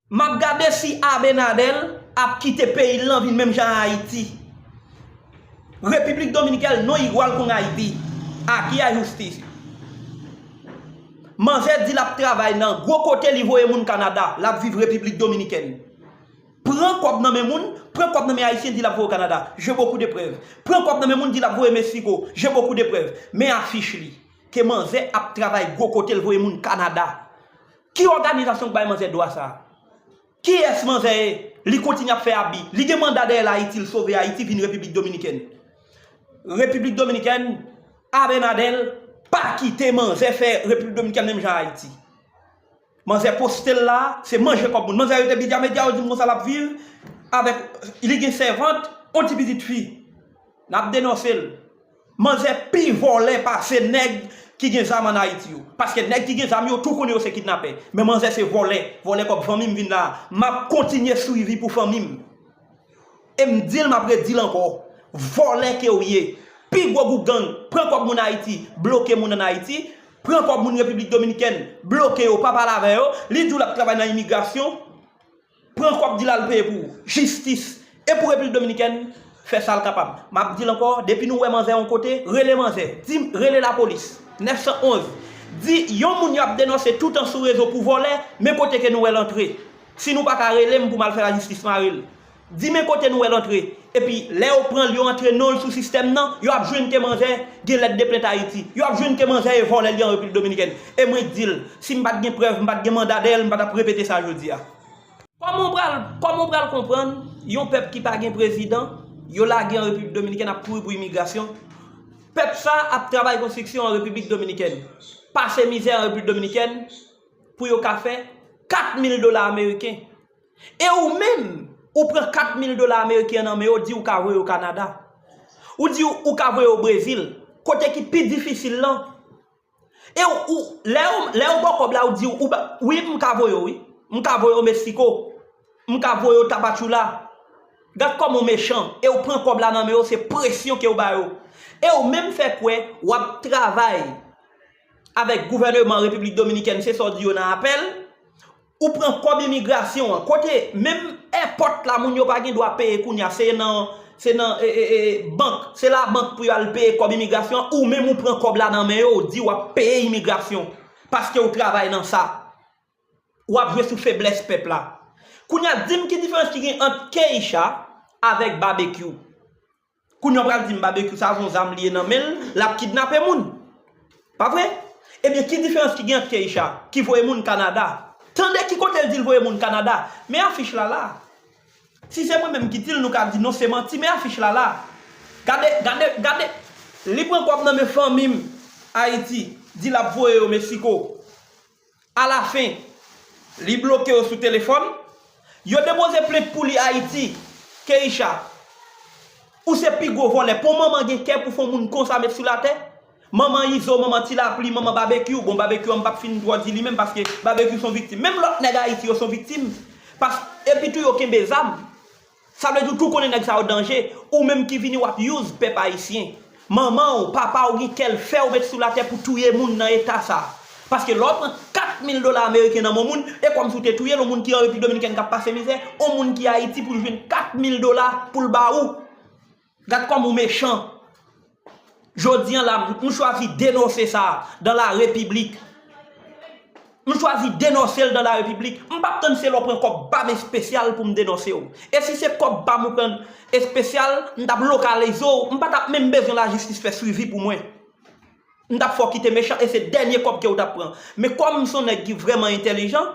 Map gade si Abenadel ap kite peyil lan vin menm jan a Haiti. Republic Dominical no igual con Haiti. Aquí hay justicia. Manzè di lap travay nan gwo kote li voye moun Canada lap viv Republic Dominican. Pran kob nan men moun, pran kob nan men Haitien di lap voye w Canada. J'ai beaucoup de preuves. Pran kob nan men moun di lap voye Mexico. J'ai beaucoup de preuves. Men afich li. Ke manzè ap travay gwo kote l voye moun Canada. Ki òganizasyon k bay manzè dwa sa? Kiyès manzè ye? Li kontinye ap fè abi. Li gen manda dèyè l Ayiti, l sove Ayiti vin Repiblik Dominikèn. Repiblik Dominikèn, Abenadèl pa kite manzè fè Repiblik Dominikèn menm jan Ayiti. Manzè poste l la, se manje kòb moun. Manzè rete Bidya Medya, yo di m konsa l ap viv avèk, li gen sèvant, yon ti pitit fi. N ap denonse l. Manzè pi vòlè pase nèg ki gen zam an ayiti yo. Paske nèg ki gen zam yo tou konnen yo se kidnapè. Men manzè se vòlè, vòlè kòb fanmi m vin la a. Map kontinye swivi pou fanmi m. E m di l map re di l ankò. Vòlè ke w ye. Pi gwo gwoup gang, pran kòb moun ayiti, bloke moun an ayiti, pran kòb moun repiblik dominikèn, bloke yo pa pale avè yo, li di w lap travay nan imigrasyon. Pran kòb dil al peye pou jistis e pou repiblik dominikèn fè sal kapab map dil ankò depi nou wè manzè yon kote rele manzè dim rele lapolis 911 di yon moun yap denonse toutan sou rezo pou vòlè men kote ke nou wèl antre si nou paka relem poum al fè lajistis marel di men kote nou wèl antre Epi lè yo pranl yo antre nonl sou sistèm nan, yo ap jwenn ke manzè gen lèt de plent Ayiti. Yo ap jwenn ke manzè e vòlè li an Repiblik Dominikèn. E mwen k dil, sim pat gen prèv, m pat gen manda dèyèl, m pa tap repete sa jodia. Kòman w pral, kòman w pral konprann yon pèp ki pa gen prezidan, yo lage an Repiblik Dominikèn ap kouri pou imigrasyon. Pèp sa ap travay konstriksyon an Repiblik Dominikèn. Pase mizè an Repiblik Dominikèn pou yo ka fè 4 mil dola ameriken. E ou menm, ou pran 4 mil dola ameriken nan men yo, di ou ka voye yo Kanada. Ou di ou ka voye yo Brezil, kote ki pi difisil lan. E ou, lè yo, lè yo ba w kòb la, ou di ou, wi m ka voye yo wi. M ka voye yo Meksiko. M ka voye yo Tapachula. Gad kòman ou mechan. E ou pran kòb la nan men yo, se presyon ke ou ba yo. E ou menm fè kwè w ap travay avèk gouvèneman Repiblik Dominikèn, se sa w di yo nan apèl. Ou pran kòb imigrasyon an kote menm èpòt la moun yo pa gen dwa peye kounya se nan se nan bank se labank pou yo al peye kòb imigrasyon an ou menm ou pran kòb la nan men yo ou di wap peye imigrasyon paske ou travay nan sa wap jwe sou feblès pèp la kounya dim ki diferans ki gen ant K-sha avèk babekyou. Kounya w pral di m Babekyou sa son zam li ye nan men l, l ap kidnape moun. Pa vre? Ebyen ki diferans ki gen ant Keïsha ki voye moun Kanada? Tande ki kote l di l voye moun Kanada. Men afich la la. Si se mwen menm ki di l nou ka di non se manti men afich la la. Gade, gade, gade. Li pran kòb nan men fanmi m Ayiti, di l ap voye yo Mexico. Alafen, li bloke yo sou telefòn. Yo depoze plent pou li Ayiti. Keïsha, Ou se pi gwo vòlè. Pou manman gen kè pou fon moun konsa met sou latè? Manman Izo, manman Ti Lapli, manman Babekyou. Bon, Babekyou an m pap fin twò di li menm paske Babekyou son viktim. Menm lòt nèg Ayiti yo son viktim. Pas, epitou yo kenbe zam. Sa vle di ou tou konnen nèg sa yo danje, ou menm ki vini wap use pèp ayisyen. Manmanw, papaw gen kèl fèw met sou latè pou touye moun nan eta sa. Paske lè w pran 4 mil dola ameriken nan men moun, e kòmsi w te touyel, on moun ki an repiblik dominikèn kap pase mizè, on moun ki ayiti poul jwenn 4 mil dola poul ba ou. Gad kòman ou mechan. Jodi an la, m chwazi denonse sa dan la repiblik. M chwazi denonse l dan la repiblik. M pap tann se lè w pran kòb pa m espesyal pou m denonse w. E si se kòb pa m ou pran espesyal, m t ap lokalize w, m pa t ap menm bezwen lajistis fè swivi pou mwen. M tap fè w kite mechan e se dènye kòb ke w tap pran. Men kòm m son nèg ki vrèman entèlijan,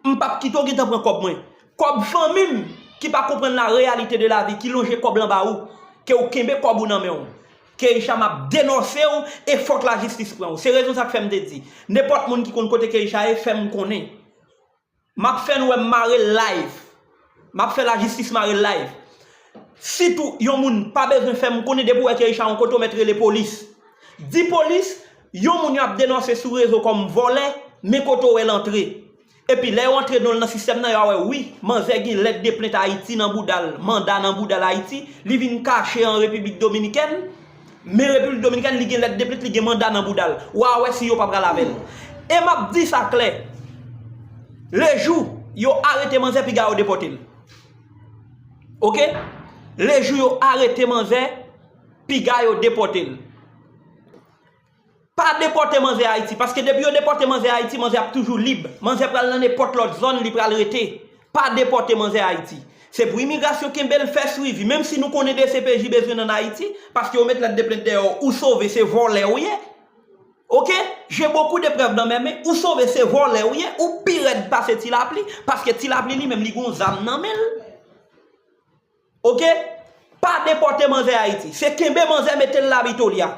m pap kite w gentan pran kòb mwen. Kòb fanmi m ki pa konprann la reyalite de lavi ki lonje kòb lan ba ou, ke w kenbe kòb ou nan men w. Keycha map denonse w e fòk lajistis pran w. Se rezon sa k fè m te di, nenpòt moun ki konn kote Keycha ye fè m konnen. Map fè nou wè m mare l live. Map fè lajistis mare l live. Sitou yon moun pa bezwen fè m konnen depi w wè Kerichat yon kote w mèt rele polis. Di polis yon moun yo ap denonse sou rezo kòm vòlè men kote w wè l antre. Epi lè yo antre non l nan sistèm nan yo a wè wi manzè gen lèt de plent Ayiti nan bouda l, manda nan bouda l Ayiti, li vin kache an Repiblik Dominikèn. Men Repiblik Dominikèn li gen lèt depit li gen manda nan bouda l. Wa wè si yo pa pral avè l. E m ap di sa klè, le jou yo arete manzè piga yo depòte l. Ok, le jou yo arete manzè piga yo depòte l. Pa depòte manzè Ayiti, paske depi yo depòte manzè Ayiti, manzè ap toujou lib. Manzè pral nan nenpòt lòt zòn li pral rete. Pa depòte manzè Ayiti. Se pou imigrasyon kenbe l, fè swivi. Menm si nou konnen dcpj bezwen n an Ayiti, paske yo met lèt de plent dèyè w, ou sove, se vòlè ou ye. Ok, j'ai beaucoup de preuves dans mes mains, ou sove, se vòlè ou ye, ou pi rèd pase Ti Lapli, paske Ti Lapli li menm li gen yon zam nan men l. Ok pa depote manzè ayiti se kenbe manzè metel la vitoria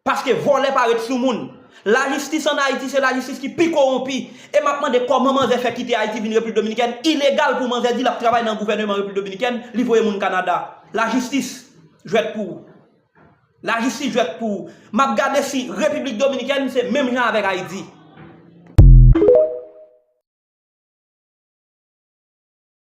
paske volè pa ret sou moun la jistis an ayiti se la jistis ki pi koronpi e map mande koman manzè fè kite ayiti vin repiblik dominikèn ilegal pou manzè di lap travay nan gouveneman repiblik dominikèn li voye moun kanada la jistis jwèt pou ou la jistis jwèt pou ou map gade si repiblik dominikèn se menm jan avek ayiti.